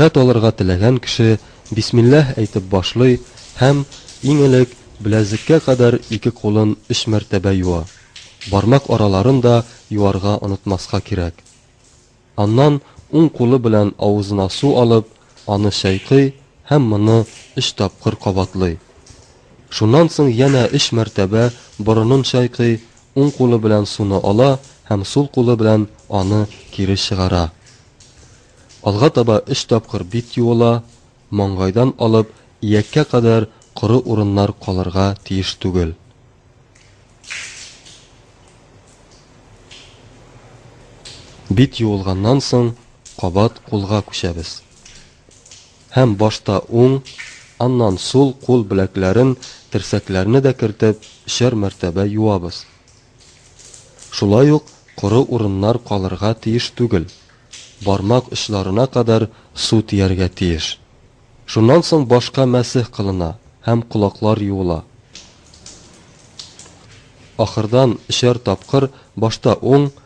Хат алырга теләгән кеше бисмилләһ әйтеп башлый һәм, иң элек, беләзеккә кадәр ике кулын өч мәртәбә юа. Бармак араларын да юарга онытмаска кирәк. Аннан уң кулы белән авызына су алып, аны чайкый һәм моны өч тапкыр кабатлый. Шуннан соң янә өч мәртәбә борынын чайкый, уң кулы белән суны ала һәм сул кулы белән аны кире чыгара. Алга таба өч тапкыр бит юыла, маңгайдан алып ияккә кадәр коры урыннар калырга тиеш түгел. Бит юылганнан соң кабат кулга күчәбез. Һәм башта уң, аннан сул кул беләкләрен, терсәкләрне дә кертеп өчәр мәртәбә юабыз. Шулай ук коры урыннар калырга тиеш түгел, бармак очларына кадәр су тияргә тиеш. Шуннан соң башка мәсех кылына һәм колаклар юыла. Ахырдан өчәр тапкыр башта уң,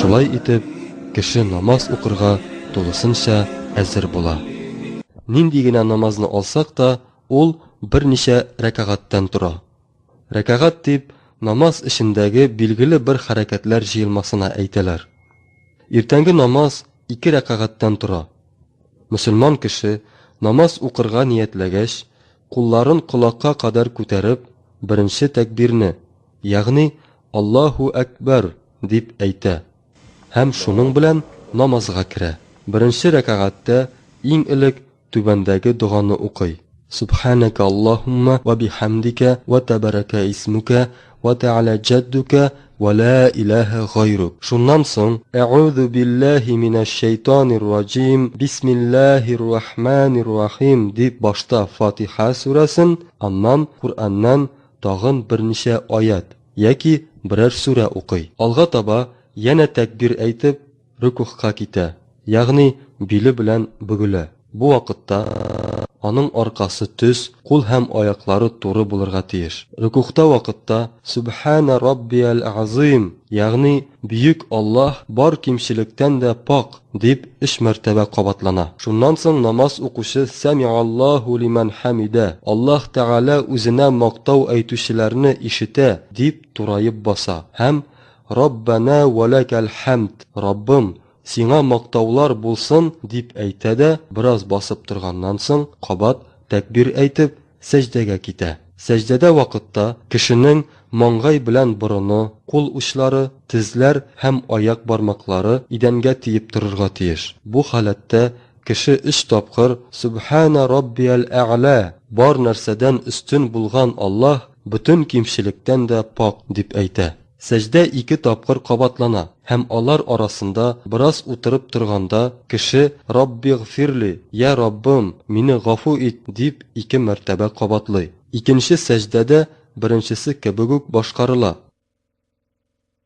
Шулай итеп, кеше намаз укырга тулысынча әзер була. Нинди генә намазны алсак та, ул берничә рәкагатьтән тора. Рәкагать дип, намаз эчендәге билгеле бер хәрәкәтләр җыелмасына әйтәләр. Иртәнге намаз ике рәкагатьтән тора. Мөселман кеше, намаз укырга ниятләгәч, кулларын колакка кадәр күтәреп, беренче тәкбирне, ягъни Аллаһу әкбәр дип әйтә һәм шуның белән намазга керә. Беренче рәкагатьтә иң элек түбәндәге доганы укый. Сөбхәнәкә Аллаһуммә вә биһәмдикә вә тәбәрәкә исмүкә Вә тәгалә җәддүкә вә лә иләһә гайрук. Шуннан соң, Әгъузу билләһи минәш шәйтанир раҗим, бисмилләһир рахманир рахим дип башта Фатиха сүрәсен, аннан Коръәннән тагын берничә аять яки берәр сүрә укый. Алга таба янә тәкбир әйтеп, рөкүгъка китә, ягъни биле белән бөгелә. Бу вакытта аның аркасы төз, кул һәм аяклары туры булырга тиеш. Рөкүгъта вакытта Сүбхәнә раббиәл-әгъзыйм, ягъни Бөек Аллаһ бар кимчелектән дә пакь, дип өч мәртәбә кабатлана. Шуннан соң намаз укучы Сәмигаллаһу лимән хәмидә, Аллаһ Тәгалә үзенә мактау әйтүчеләрне ишетә, дип тураеп баса һәм Раббана вә ләкәл хәмд, Раббым, Сиңа мактаулар булсын, дип әйтә дә, бераз басып торганнан соң, кабат тәкбир әйтеп, сәҗдәгә китә. Сәҗдәдә вакытта кешенең маңгай белән борыны, кул учлары, тезләр һәм аяк бармаклары идәнгә тиеп торырга тиеш. Бу халәттә кеше өч тапкыр Сөбханә раббиәл әгълә, Бар нәрсәдән өстен булган Аллаһ, бөтен кимчелектән дә пакь, дип әйтә. Сәҗдә ике тапкыр кабатлана һәм алар арасында бераз утырып торганда кеше Раббигъфирли, Йә Раббым, мине гафу ит, дип ике мәртәбә кабатлый. Икенче сәҗдә дә беренчесе кебек үк башкарыла.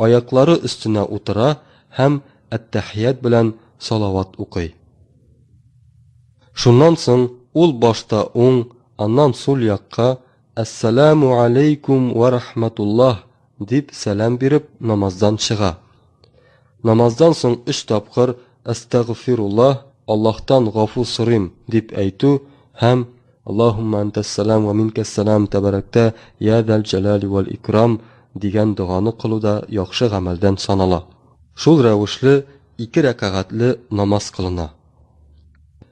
Аяклары өстенә утыра һәм әттәхият белән салават укый. Шуннан соң ул башта уң, аннан сул якка Әссәләмү галәйкүм вә рахмәтуллаһ дип сәлам биреп намаздан чыга. Намаздан соң өч тапкыр Әстәгъфируллаһ, Аллаһтан гафу сорыйм, дип әйтү һәм Аллаһуммә әнтәс-сәлам вә минкәс-сәлам тәбәрәктә йә зәл-җәләли вәл-икрам дигән доганы кылу да яхшы гамәлдән санала. Шул рәвешле ике рәкагатьле намаз кылына.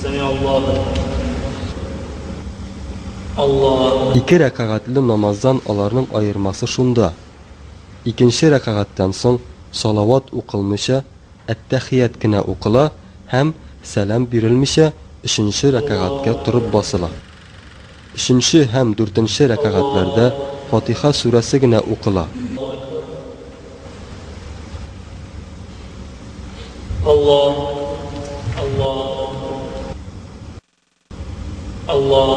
Сәмиә Аллаһу әкбәр. Аллаһу. Ике рәкагатьле намаздан аларның аермасы шунда, икенче рәкагатьтән соң салават укылмыйча, әттәхият кенә укыла һәм, сәлам бирелмичә, өченче рәкагатькә торып басыла. Өченче һәм дүртенче рәкәгатьләрдә Фатиха сүрәсе генә укыла. Аллаһ, Аллаһ, Аллаһ,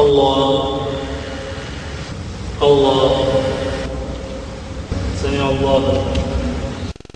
Аллаһ, Аллаһ, Сәмиаллаһу.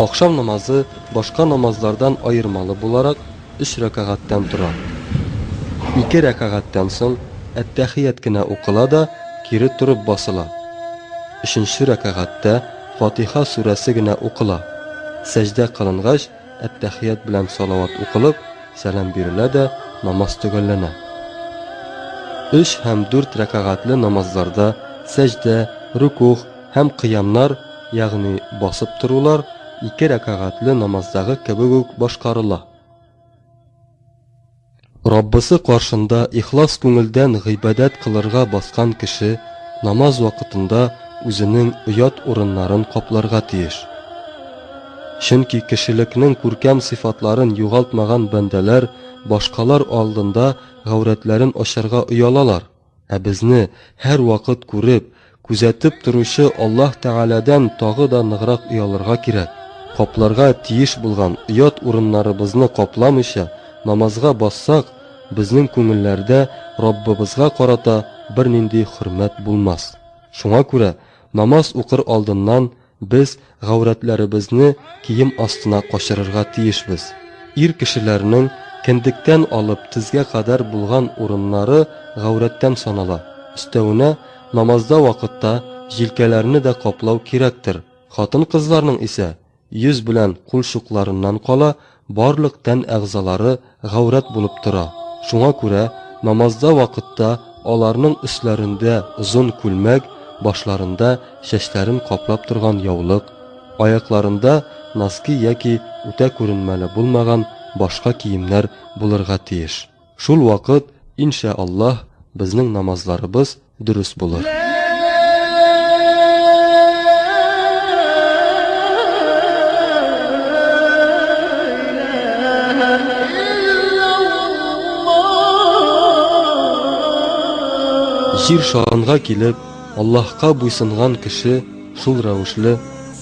Ахшам намазы башка намазлардан аермалы буларак, өч рәкагатьтән тора. Ике рәкагатьтән соң әттәхият кенә укыла да, кире торып басыла. Өченче рәкагатьтә, Фатиха сүрәсе генә укыла. Сәҗдә кылынгач, әттәхият белән салават укылып, сәлам бирелә дә намаз төгәлләнә. Өч һәм дүрт рәкагатьле намазларда сәҗдә, рөкугъ һәм кыямнар, ягъни басып торулар, ике рәкагатьле намаздагы кебек үк башкарыла. Раббысы каршында ихлас күңелдән гыйбадәт кылырга баскан кеше намаз вакытында үзенең оят урыннарын капларга тиеш. Чөнки кешелекнең күркәм сыйфатларын югалтмаган бәндәләр башкалар алдында гаурәтләрен ачарга оялалар. Ә безне һәрвакыт күреп, күзәтеп торучы Аллаһ Тәгаләдән тагы да ныграк оялырга кирәк. Капларга тиеш булган оят урыннарыбызны капламыйча намазга бассак, безнең күңелләрдә Раббыбызга карата бернинди хөрмәт булмас. Шуңа күрә намаз укыр алдыннан Без гаурәтләребезне кием астына качырырга тиешбез. Ир кешеләрнең кендектән алып тезгә кадәр булган урыннары гаурәттән санала. Өстәвенә, намазда вакытта җилкәләрне дә каплау кирәктер. Хатын-кызларның исә йөз белән кулчукларыннан кала Барлык тән әгъзалары гаурәт булып тора, шуңа күрә намазда вакытта аларның өсләрендә озын күлмәк, башларында чәчләрен каплап торган яулык, аякларында носки яки үтә күренмәле булмаган башка киемнәр булырга тиеш. Шул вакыт, ин шә Аллаһ, безнең намазларыбыз, дөрес булыр. Җир шанга килеп, Аллаһка буйсынган кеше шул рәвешле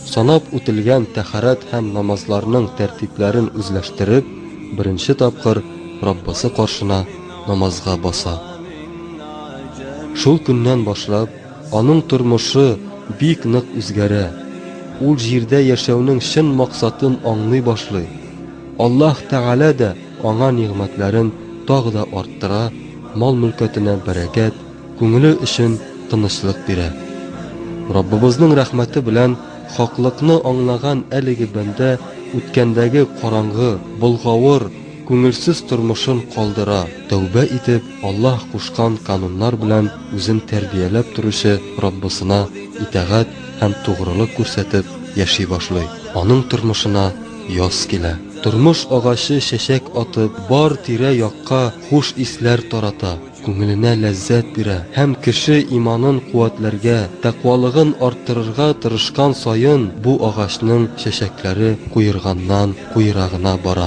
санап үтелгән тәхәрәт һәм намазларның тәртипләрен үзләштереп, беренче тапкыр Раббысы каршына намазга баса. Шул көннән башлап, аның тормышы бик нык үзгәрә, ул җирдә яшәүнең чын максатын аңлый башлый, Аллаһ Тәгалә дә аңа нигъмәтләрен тагы да арттыра, мал-мөлкәтенә бәрәкәт, күңеле өчен тынычлык бирә. Раббыбызның рәхмәте белән хаклыкны аңлаган әлеге бәндә үткәндәге караңгы, болгавыр, Күңелсез тормышын калдыра, тәүбә итеп, Аллаһ кушкан кануннар белән үзен тәрбияләп торучы Раббысына итагать һәм тугрылык күрсәтеп яши башлый. Аның тормышына яз килә. Тормыш агачы чәчәк атып, бар тирә-якка хуш исләр тарата, күңеленә ләззәт бирә һәм кеше иманын куәтләргә, тәкъвалыгын арттырырга тырышкан саен бу агачның чәчәкләре куерганнан-куера гына бара.